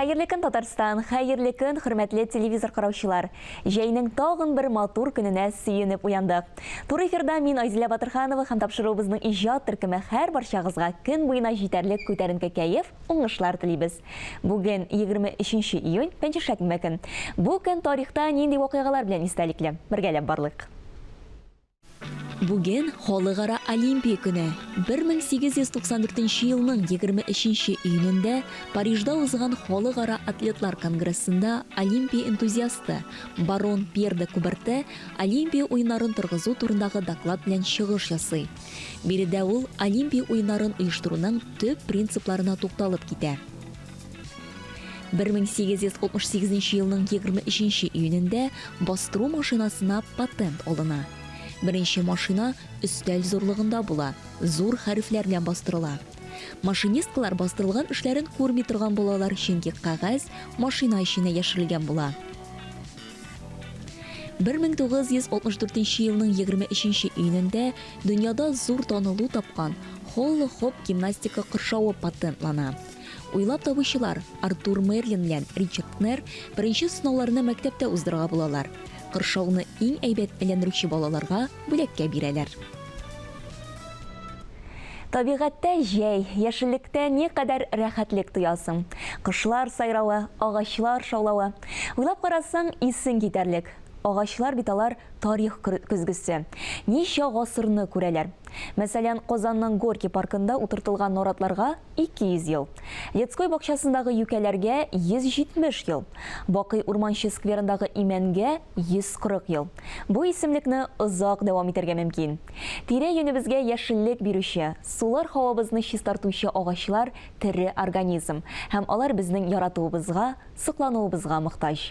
Хәерле көн, Татарстан! Хәерле көн, хөрмәтле телевизор караучылар! Җәйнең тагын бер матур көненә сөенеп уяндык. Туры эфирда мин Айзилә Батырханова һәм тапшыруыбызның иҗат төркеме һәр барчагызга көн буена җитәрлек күтәренке кәеф, уңышлар телибез. Бүген 23 июнь, пәнҗешәкмбе көн. Бу көн тарихта нинди вакыйгалар белән истәлекле? Бергәләп барлыйк. Бүген, Халыкара Олимпия көне. 1894 нче елның 23 нче июнендә Парижда узган Халыкара атлетлар конгрессында Олимпия энтузиасты, барон Пьер де Кубертэ Олимпия уеннарын торгызу турындагы доклад белән чыгыш ясый. Биредә ул Олимпия уеннарын оештыруның төп принципларына тукталып китә. 1868 елның 23 июнендә бастыру машинасына патент алына. Беренче машина өстәл зурлыгында була, зур хәрефләр белән бастырыла. Машинисткалар бастырылган эшләрен күрми торган булалар, чөнки кәгазь машина эченә яшерелгән була. 1964 елның 23 июнендә дөньяда зур танылу тапкан Холло-хоп гимнастика кыршавы патентлана. Уйлап табучылар Артур Мерлин белән Ричард Кнер беренче сынауларны мәктәптә уздырырга булалар. Кыршауны иң әйбәт әйләндерүче балаларга бүләккә бирәләр. Табигатьтә җәй, яшеллектә никадәр рәхәтлек тоясың. Кошлар сайравы, агачлар шаулавы. Уйлап карасаң, исең китәрлек. Агачлар бит алар тарих көзгесе. Ничә гасырны күрәләр. Мәсәлән, Казанның Горький паркында утыртылган наратларга, 200 ел, Детской бакчасындагы юкәләргә 170 ел, Бакый Урманче скверындагы имәнгә 140 ел. Бу исемлекне озак дәвам итәргә мөмкин. Тирә-юнебезгә яшеллек бирүче, сулар һавабызны чистартучы агачлар тере организм һәм алар безнең яратуыбызга, соклануыбызга мохтаҗ.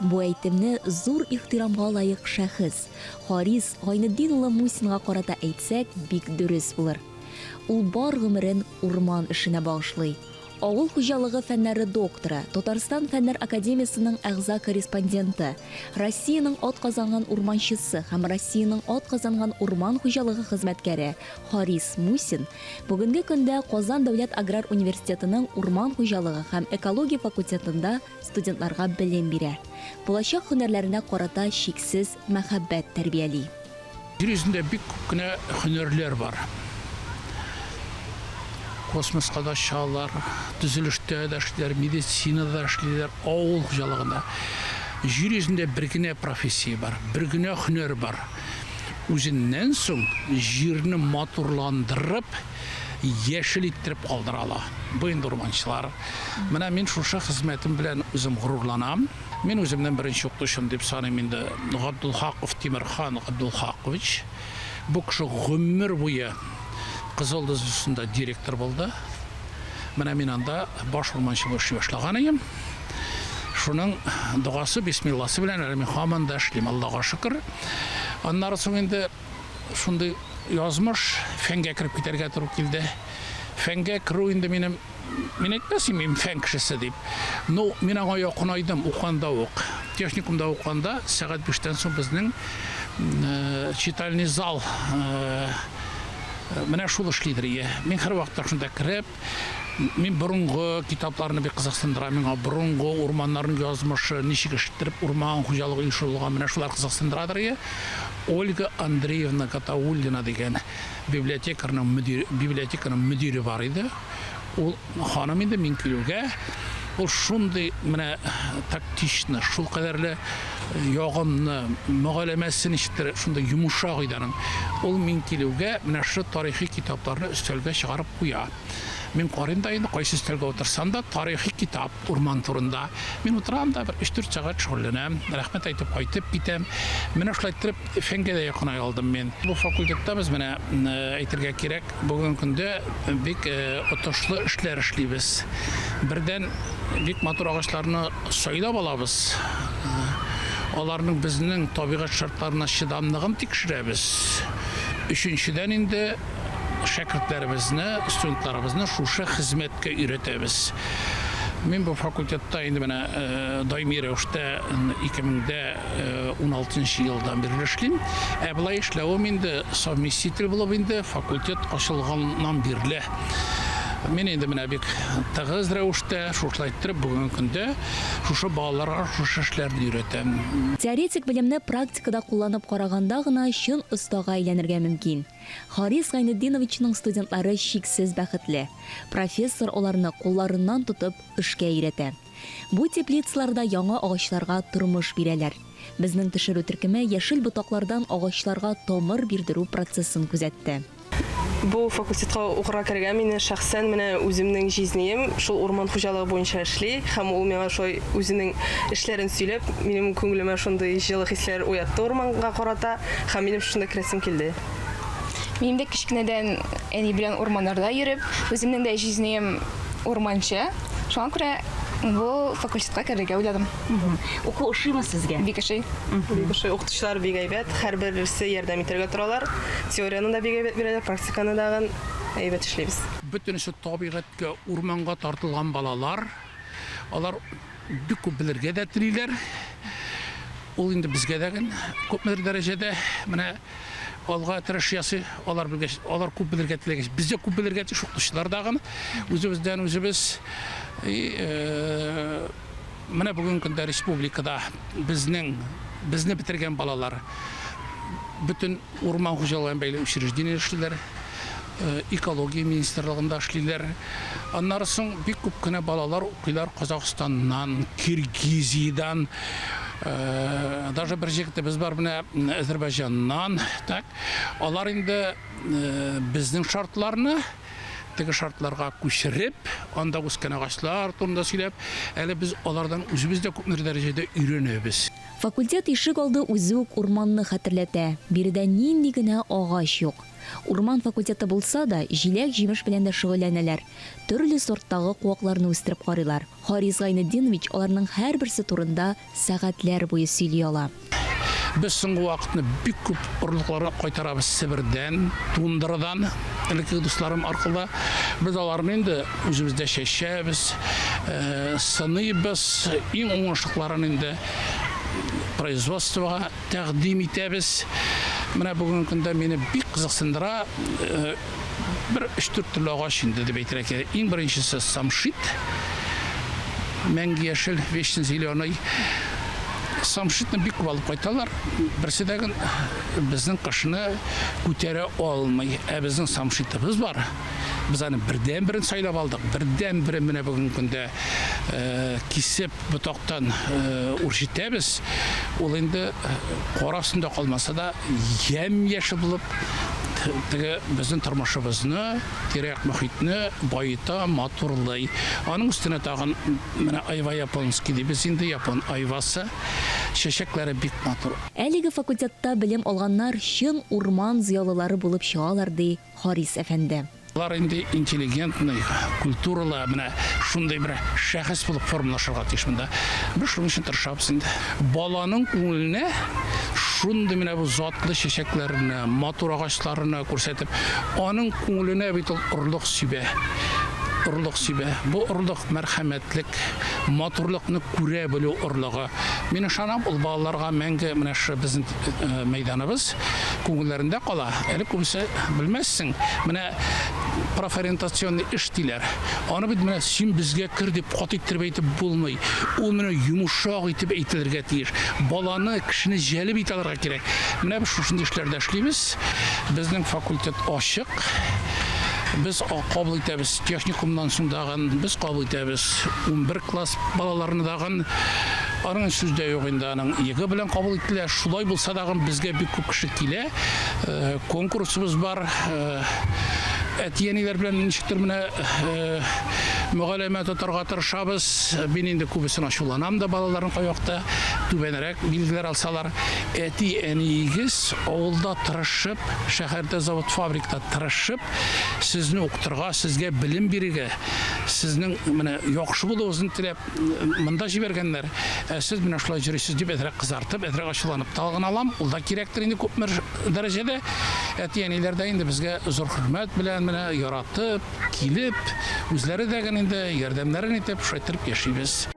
Бу әйтемне зур ихтирамга лаек шәхес, Харис Гайнетдин улы Мусинга карата әйтсәк, бик дөрес булыр. Ул бар гомерен урман эшенә багышлый. Авыл хуҗалыгы фәннәре докторы, Татарстан Фәннәр академиясенең әгъза-корреспонденты, Россиянең атказанган урманчысы һәм Россиянең атказанган урман хуҗалыгы хезмәткәре Харис Мусин бүгенге көндә Казан дәүләт аграр университетының урман хуҗалыгы һәм экология факультетында студентларга белем бирә, булачак һөнәрләренә карата чиксез мәхәббәт тәрбияли. Җир йөзендә бик күп кенә һөнәрләр бар. Космоска да очалар, төзелештә дә эшлиләр, медицинада да эшлиләр, авыл хуҗалыгында. Җир йөзендә бер генә профессия бар, бер генә һөнәр бар. Үзеннән соң җирне матурландырып, яшел иттереп калдыра ала. Бу инде урманчылар. Менә мин шушы хезмәтем белән үзем горурланам. Мин үземнең беренче укытучым дип саныйм инде Габдулхаков Тимерхан Габдулхакович. Бу кеше гомер буе Кызыл Дыз устында директор булды. Менә мин анда баш урманчы булып эшли башлаган идем. Шуның догасы, бисмилласы белән әле мин һаман да эшлим, Аллага шөкер. Аннары соң инде шундый язмыш, фәнгә кереп китәргә туры килде. Фәнгә керү инде минем, мин әйтмәс идем, фән кешесе дип. Ну, мин аңа якынайдым, уканда ук. Техникумда уканда, сәгать биштән соң безнең э, читальный зал э, менә шул эшлидер. Мин һәрвакытта шунда кереп, Мин борынгы китапларны бик кызыксындыра. Миңа борынгы урманнарның язмышы, ничек эштереп урман хуҗалыгы оешырылган, менә шулар кызыксындырадыр ие. Ольга Андреевна Гатауллина дигән библиотекарның мөдир, библиотеканың мөдире бар иде. Ул ханым инде мин килүгә, ул шундый менә тактично, шул кадәрле ягымлы мөгаләмәсе ничектер шундый йомшак иде аның. Ул мин килүгә менә шушы тарихи китапларны өстәлгә чыгарып куя. Мин карыйм да инде кайсы өстәлгә утырсам да тарихи китап урман турында. Мин утырам да бер 3-4 сәгать шөгыльләнәм, рәхмәт әйтеп кайтып китәм. Менә шулай иттереп фәнгә дә якынай алдым мин. Бу факультетта без менә әйтергә кирәк, бүгенге көндә бик отышлы эшләр эшлибез. Бердән бик матур агачларны Сайлап алабыз, аларның безнең табигать шартларына чыдамлыгын тикшерәбез. Өченчедән инде шәкертләребезне, студентларыбызны шушы хезмәткә өйрәтәбез. Мин бу факультетта инде менә даими рәвештә 2016 нчы елдан бирле эшлим. Ә болай эшләвем инде совместитель булып инде факультет ачылганнан бирле. Мин инде менә бик тыгыз рәвештә шушылай иттереп бүгенге көндә шушы балаларга шушы эшләрне өйрәтәм. Теоретик белемне практикада кулланып караганда гына чын остага әйләнергә мөмкин. Харис Гайнетдиновичның студентлары чиксез бәхетле. Профессор аларны кулларыннан тотып эшкә өйрәтә. Бу теплицалар да яңа агачларга тормыш бирәләр. Безнең төшерү төркеме яшел ботаклардан агачларга тамыр бирдерү процессын күзәтте. Бу факультетка укырга керергә мине шәхсән менә үземнең җизнием шул урман хуҗалыгы буенча эшли һәм ул миңа шулай үзенең эшләрен сөйләп, минем күңелемә шундый җылы хисләр уятты урманга карата һәм минем шунда керәсем килде. Минем дә кечкенәдән әни белән урманнарда йөреп, үземнең дә җизнием урманчы. Шуңа күрә бу факультетка керергә уйладым. Уку ошыймы сезгә? Бик ошый. Бик ошый. Укытучылар бик әйбәт. Һәрберсе ярдәм итәргә торалар. Теорияны да бик әйбәт бирәләр, практиканы да әйбәт эшлибез. Бөтен эше табигатькә, урманга тартылган балалар. Алар бик күп белергә дә телиләр. Ул инде безгә дә гел күпмедер дәрәҗәдә менә алга тырыш ясый. Алар белгәч, алар күп белергә теләгәч, без дә күп белергә тиеш, укытучылар да гын үзебездән үзебез. И, э, менә бүгенге көндә республикада безнең безне бетергән балалар бөтен Урман хуҗалыгы белән бәйле учреждениедә эшлиләр, экология министрлыгында эшлиләр. Аннары соң бик күп кенә балалар укыйлар Казахстаннан, Киргизиядән, даже бер җегетебез бар менә Әзербайҗаннан. Так, алар инде безнең шартларны теге шартларга күчереп, анда үскән агачлар турында сөйләп, әле без алардан үзебез дә күпмедер дәрәҗәдә өйрәнәбез. Факультет ишек алды үзе үк урманны хәтерләтә, биредә нинди генә агач юк. Урман факультеты булса да, җиләк-җимеш белән дә шөгыльләнәләр, төрле сорттагы куакларны үстереп карыйлар. Харис Гайнетдинович аларның һәрберсе турында сәгатьләр буе сөйли ала. Без соңгы вакытны бик күп орлыкларны кайтарабыз Себердән, Тундрадан, элеккеге дусларым аркылы. Без аларны инде үзебездә чәчәбез, сыныйбыз, иң уңышлыларын инде производствога тәкъдим итәбез. Менә бүгенге көндә мине бик кызыксындыра э, бер өч-дүрт төрле агач инде дип әйтергә кирәк. Иң беренчесе самшит, мәңге яшел, вечный зеленый. Самшитны бик күп алып кайталар. Берсе дә гел безнең кышны күтәрә алмый. Ә безнең самшитыбыз бар. Без аны бердән-берен сайлап алдык. Бердән-бере менә бүгенге көндә э, кисеп ботактан үрчетәбез, ул инде кар астында калмаса да, ямь-яшел булып, теге безнең тормышыбызны, тирә-як мөхитне баета, матурлый. Аның өстенә тагын менә айва японский дибез инде, япон айвасы. Чәчәкләре бик матур. Әлеге факультетта белем алганнар чын урман зыялылары булып чыгалар, ди Харис әфәнде. Алар инде интеллигентный, культуралы, менә шундый бер шәхес булып формалашырга тиеш монда. Без шуның өчен тырышабыз инде. Баланың күңеленә шундый менә бу затлы чәчәкләрне, матур агачларны күрсәтеп, аның күңеленә бит ул орлык сибә. Орлык сибә. Бу орлык мәрхәмәтлек, матурлыкны күрә белү орлыгы. Мин ышанам, ул балаларга мәңге менә шушы безнең мәйданыбыз күңелләрендә кала. Әле күбесе белмәссең, менә профориентационный эш диләр. Аны бит менә син безгә кер дип кат иттереп әйтеп булмый. Ул менә йомшак итеп әйтелергә тиеш. Баланы, кешене җәлеп итә алырга кирәк. Менә без шушындый эшләрдә эшлибез. Безнең факультет ачык. Без кабул итәбез техникумнан соң да. Без кабул итәбез унбер класс балаларны дагын. Аның сүз дә юк инде, аның йгы белән кабул ителә. Шулай булса дагын безгә бик күп кеше килә. Конкурсыбыз бар. Әти-әниләр белән ничектер менә мөгаләмә тотарга тырышабыз. Мин инде күбесен ачуланам да балаларны кайвакта түбәнрәк билгеләр алсалар. Әти-әниегез авылда тырышып, шәһәрдә завод-фабрикта тырышып, Сезне укытырга, сезгә белем бирергә, сезнең менә яхшы булуыгызны теләп монда җибәргәннәр. Ә сез менә шулай җөрисез дип әзрәк кызартып, әзрәк ачуланып та алган алам. Ул да кирәктер инде күпме дәрәҗәдә. Әти-әниләр дә инде безгә зур хөрмәт белән менә яратып, килеп, үзләре дә генә инде ярдәмнәрен итеп, шайтырып яшибез.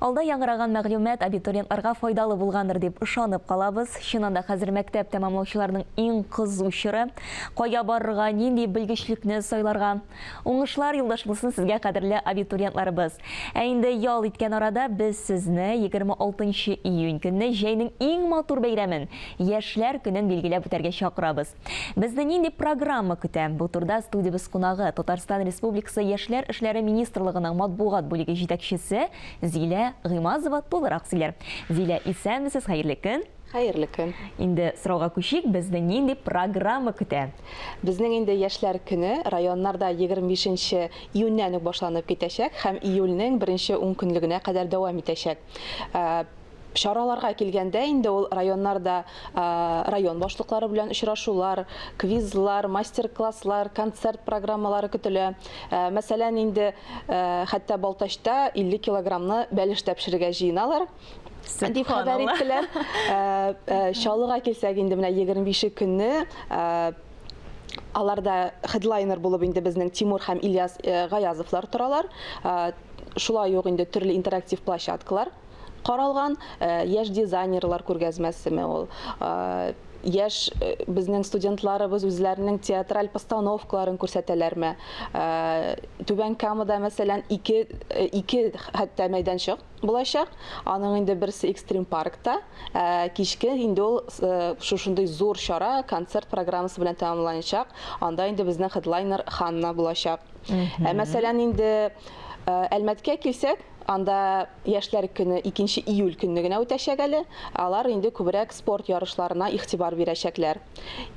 Алда яңгыраган мәгълүмат абитуриент арга файдалы булгандыр дип ышанып калабыз. Чыннан да хәзер мәктәп тәмамлаучыларның иң кызу чоры. Кая барырга, нинди белгечлекне сайларга? Уңышлар юлдаш булсын сезгә, кадерле абитуриентларыбыз. Ә инде ял иткән арада без сезне 26 нчы июнь көнне җәйнең иң матур бәйрәмен, Яшьләр көнен билгеләп үтәргә чакырабыз. Безне нинди программа көтә? Бу турда студиябез кунагы, Татарстан Республикасы Яшьләр эшләре министрлыгының матбугат бүлеге җитәкчесе Зилә Гыймазова тулырак сөйләр. Зилә, исәнмесез, хәерле көн! Хәерле көн. Инде сорауга күчик, безне нинди программа көтә? Безнең инде яшьләр көне районнарда 25 нче июньнән үк башланып китәчәк һәм июльнең беренче ункөнлегенә кадәр дәвам итәчәк. Чараларга килгәндә инде ул районнарда район башлыклары белән очрашулар, квизлар, мастер-класслар, концерт программалары көтелә. Мәсәлән, инде хәтта Балтачта 50 килограммны бәлештә пешерергә җыеналар дип хәбәр иттеләр. Чаллыга килсәк инде менә 25 көнне аларда хедлайнер булып инде безнең Тимур һәм Ильяс Гаязовлар торалар. Шулай ук инде төрле интерактив площадкалар каралган. Яшь дизайнерлар күргәзмәсеме ул? Яшь безнең студентларыбыз үзләренең театраль постановкаларын күрсәтәләрме? Түбән Камада, мәсәлән, ике, ике хәтта мәйданчык булачак. Аның инде берсе Экстрим паркта, ә кичке инде ул шушындый зур чара концерт программасы белән тәмамланачак. Анда инде безнең хедлайнер Ханна булачак. Ә мәсәлән инде Әлмәткә килсәк, анда яшьләр көне 2 июль көнне генә үтәчәк әле. Алар инде күбрәк спорт ярышларына игътибар бирәчәкләр.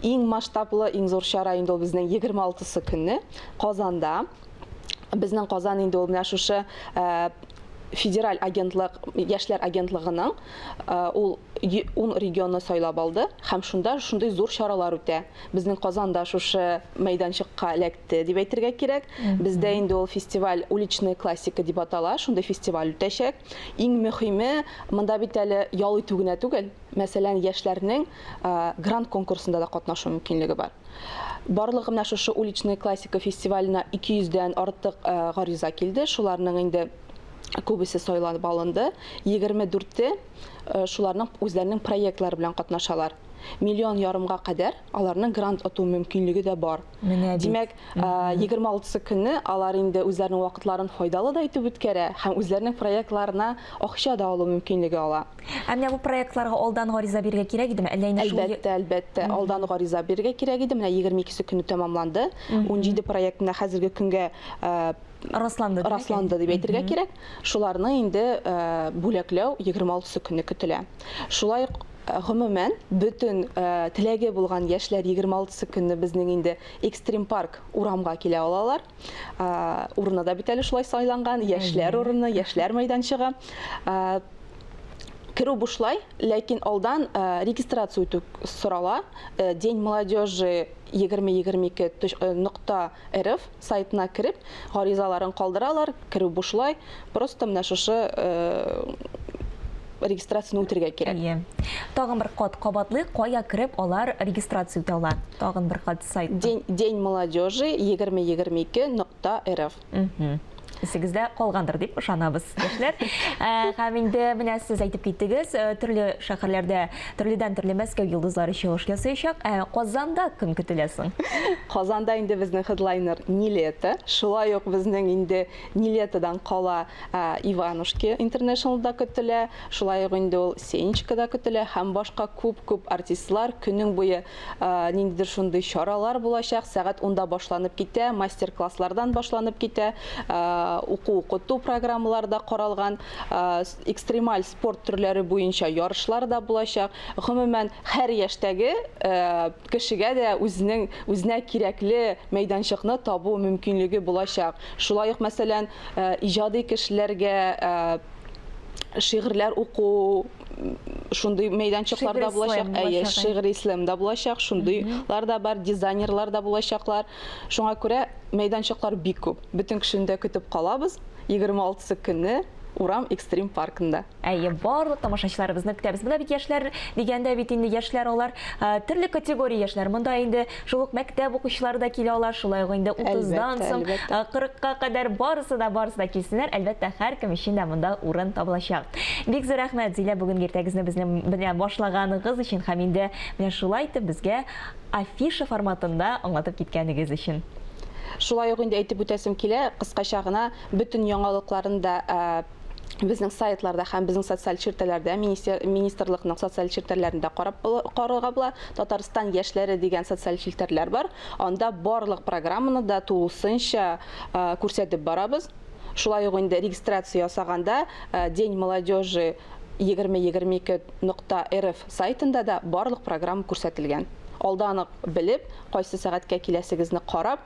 Иң масштаблы, иң зур чара инде ул безнең 26 көнне Казанда. Безнең Казан инде ул менә шушы федераль агентлык, яшьләр агентлыгының ул 10 регионны сайлап алды һәм шунда шундый зур чаралар үтә. Безнең Казанда шушы мәйданчыкка эләкте. итте дип әйтергә кирәк. Бездә инде ул фестиваль уличная классика дип атала, шундый фестиваль үтәчәк. Иң мөһиме, монда бит әле ял итү генә түгел, мәсәлән, яшьләрнең грант конкурсында да катнашу мөмкинлеге бар. Барлыгы менә шушы уличная классика фестиваленә 200 дән артык гариза килде. Шуларның инде күбесе сайланып алынды. 24-те шуларның үзләренең проектлары белән катнашалар. Миллион ярымга кадәр аларның грант оту мөмкинлеге дә бар. Менә бит. Димәк, 26 э, көнне алар инде үзләренең вакытларын файдалы да итеп үткәрә һәм үзләренең проектларына акча да алу мөмкинлеге ала. Ә менә бу проектларга алдан гариза бирергә кирәк идеме? Әллә инде шул Әлбәттә, әлбәттә, алдан гариза бирергә кирәк иде. Менә 22 көнне тәмамланды. 17 проектына хәзерге көнгә э, расланды расланды дип әйтергә кирәк. Шуларны инде э, бүләкләү 26 көнне көтелә. Шулай Гомумән, бөтен теләге булган яшьләр егерме алтысы көнне безнең инде Экстрим парк урамга килә алалар. Урыны да бит әле шулай сайланган, яшьләр урыны, яшьләр мәйданчыгы. Керү бушлай, ләкин алдан регистрация үтү сорала. День молодежи 2022.рф сайтына кереп, гаризаларын калдыралар, керү бушлай, просто менә шушы регистрацияне үтергә кирәк. Әйе. Тагын бер кат кабатлыйк, кая кереп алар регистрация үтә ала? Тагын бер кат сайт. День, день молодежи 2022.рф. исегездә калгандыр дип ышанабыз, яшьләр. Ә, һәм инде менә сез әйтеп киттегез, э, төрле шәһәрләрдә төрледән төрле Мәскәү йолдызлары чыгыш ясаячак. Ә Казанда кем көтелә соң? Казанда инде безнең хедлайнер Нилета. Шулай ук безнең инде Нилетадан кала э, Иванушки Интернешнл да көтелә, шулай ук инде ул Сенечка да көтелә һәм башка күп-күп артистлар көнең буе Ниндидер шундый чаралар булачак, сәгать унда башланып китә, мастер-класслардан башланып китә, уку-укыту программалары да каралган, экстремаль спорт төрләре буенча ярышлар да булачак. Гомумән, һәр яшьтәге кешегә дә үзенең үзенә кирәкле мәйданчыкны табу мөмкинлеге булачак. Шулай ук, мәсәлән, иҗади кешеләргә шигырьләр уку, шундый мәйданчыклар да булачак, әйе, шигъри слэм да булачак, шундыйлар да бар, дизайнерлар да булачаклар. Шуңа күрә мәйданчыклар бик күп. Бөтен кешене дә көтеп калабыз. 26 көнне Урам экстрим паркында. Әйе, барлык тамашачыларыбызны көтәбез. Менә бит яшьләр дигәндә бит инде яшьләр алар, э, төрле категория яшьләр. Монда инде Шул ук мәктәп укучылары да килә алар, шулай ук инде 30-дан соң 40-ка кадәр барысы да барысы да килсеннәр, әлбәттә, һәркем өчен дә монда урын табылачак. Бик зур рәхмәт, Зилә, бүген иртәгезне безнең белән башлаганыгыз өчен һәм инде менә шулай итеп безгә афиша форматында аңлатып киткәнегез өчен. Шулай ук инде әйтеп үтәсем килә, кыскача гына бөтен яңалыкларын да безнең сайтларда һәм безнең социаль челтәләрдә министр, министрлыкның социаль челтәрләрендә карап карарга була. Татарстан яшьләре дигән социаль челтәрләр бар. Анда барлык программаны да тулысынча күрсәтеп барабыз. Шулай ук инде регистрация ясаганда День молодежи 2022.rf сайтында да барлык программа күрсәтелгән. Алдан ук белеп, кайсы сәгатькә киләсегезне карап,